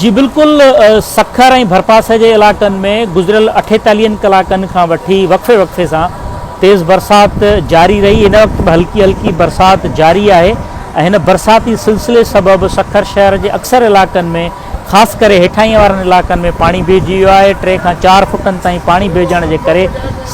جي بلڪل سکر ۽ ڀرپاسي جي علائقن ۾ گذريل اٺيتاليهن ڪلاڪن کان وٺي وقفي وقفي سان تيز برسات جاري رهي هن وقت به هلڪي هلڪي برسات جاري آهي ۽ هن برساتي سلسلي سبب سکر شهر جي اڪثر علائقن ۾ خاص ڪري هيٺاهين وارن علائقن ۾ پاڻي بيهجي ويو آهي ٽي کان چار فٽن تائين پاڻي بيهجڻ جي ڪري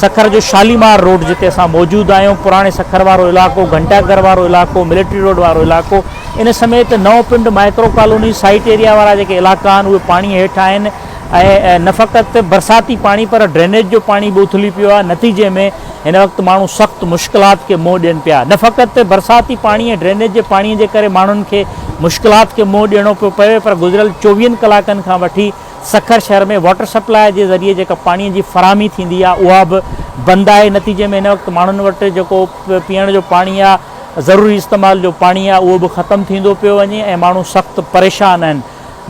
سکر جو شاليمار روڊ جتي اسان موجود آهيون پراڻي سکر وارو علائقو گهنٽا گهر وارو علائقو ملٽري روڊ وارو علائقو ان سميت نئون پنڊ مائڪرو ڪالوني سائيٽ ايريا وارا جيڪي علائقا آهن اهي پاڻي هيٺ آهن ۽ نه فقط برساتي پاڻي پر ڊرينيج جو پاڻي به اٿلي پيو آهي نتيجي ۾ هن وقت ماڻهو سخت مشڪلات کي منهن ڏين پيا نه فقط برساتي پاڻي ۽ ڊرينيج جي پاڻي جي ڪري ماڻهن کي مشڪلات کي منهن ڏيڻو پيو پوي پر گذريل چوويهن ڪلاڪن کان وٺي سکر شهر ۾ واٽر سپلاء جي ذريعي جيڪا پاڻي جي فراهمي ٿيندي آهي اها به بند آهي نتيجي ۾ هن وقت ماڻهن وٽ جيڪو پيئڻ جو پاڻي آهي ضروري استعمال جو پاڻي آهي اهو به ختم ٿيندو پيو وڃي ۽ ماڻهو سخت پريشان آهن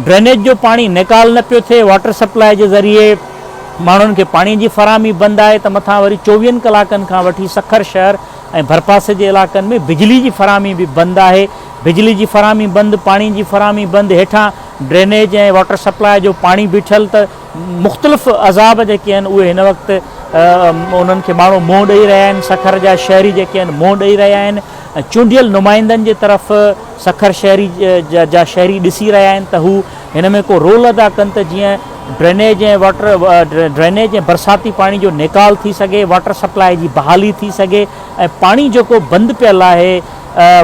ڊرينيج جو پاڻي نيڪال نه پيو ٿئي واٽر سپلاء جي ذريعي ماڻهن کي پاڻي جي فراهمي بند آهي ته مٿان وري چوويهن ڪلاڪن کان وٺي سکر شهر ۽ ڀرپاسي جي علاقن ۾ بجلي جي فراهمي به بند آهي بجلي جي فراهمي بند پاڻي جي فراهمي بند هيٺان ڊرينيج ۽ واٽر سپلاء جو پاڻي بيٺل ته مختلف عذاب جيڪي آهن اهي هن وقت انهن کي ماڻهو منهن ڏئي رهيا آهن سکر جا شهري جيڪي آهن منهن ڏئي رهيا آهن ۽ چونڊيل نمائندن جي طرف سکر شهري جا شهري ڏسي رهيا آهن ته هو هن ۾ ڪو رول ادا ڪن ته جيئن ڊرينيج ۽ واٽر ڊرينيج ۽ برساتي پاڻي جو نيڪال ٿي سگهي واٽر سپلاء جي بحالي ٿي سگهي ۽ پاڻي جيڪو بند پيل آهي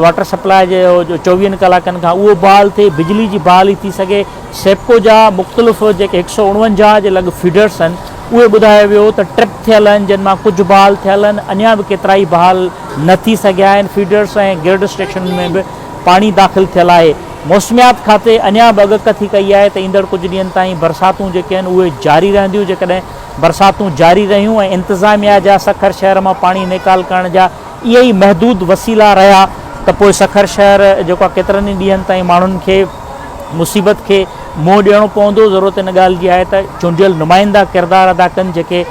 واٽر سپلاء جو چوويهن ڪلاڪن کان اهو بحال ٿئي بجلي جي بحالي ٿي سگهي سيپڪو جا مختلف جيڪي هڪ سؤ اڻونجاهه جي لڳ فيڊرز آهن اهي ٻڌايو ويو ته ٽرپ ٿيل آهن جن مان ڪجهه بحال ٿيل آهن اڃا به ڪيترائي بحال نه ٿي سگهيا آهن فيڊرز ۽ گرڊ اسٽيشنن ۾ به پاڻي داخل ٿيل آهي موسميات کاتي اڃا به اڳڪ ٿي ڪئي آهي ته ايندڙ ڪجهه ڏينهن تائين برساتون جيڪي آهن اهي جاري رهنديون جيڪڏهن برساتون جاري رهيون ۽ انتظاميا جا سکر شهر مان پاڻي نيڪال ڪرڻ جا اهي ئي محدود وسيلا رهيا ته پوء سکر شهر جيڪو آهي ڪيترن ئي ڏينهن تائين ماڻهن کي مصيبت کي منهن ڏيڻو پوندو، ضرورت ان ڳالهه جي آهي ته چونڊيل نمائندا ڪردار ادا ڪن جيڪي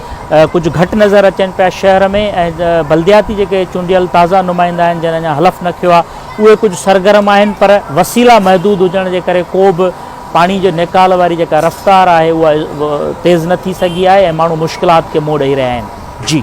ڪجهه گهٽ نظر اچن پيا شهر ۾ ۽ بلدياتي جيڪي چونڊيل تازا نمائندا آهن جن اڃا حلف نه کيو آهي اهي ڪجهه سرگرم آهن پر وسيلا محدود هجڻ جي ڪري ڪو به پاڻي جي نيڪال واري جيڪا رفتار آهي اها تيز نه ٿي سگهي آهي ۽ ماڻهو مشڪلات کي منهن ڏئي رهيا آهن. جي.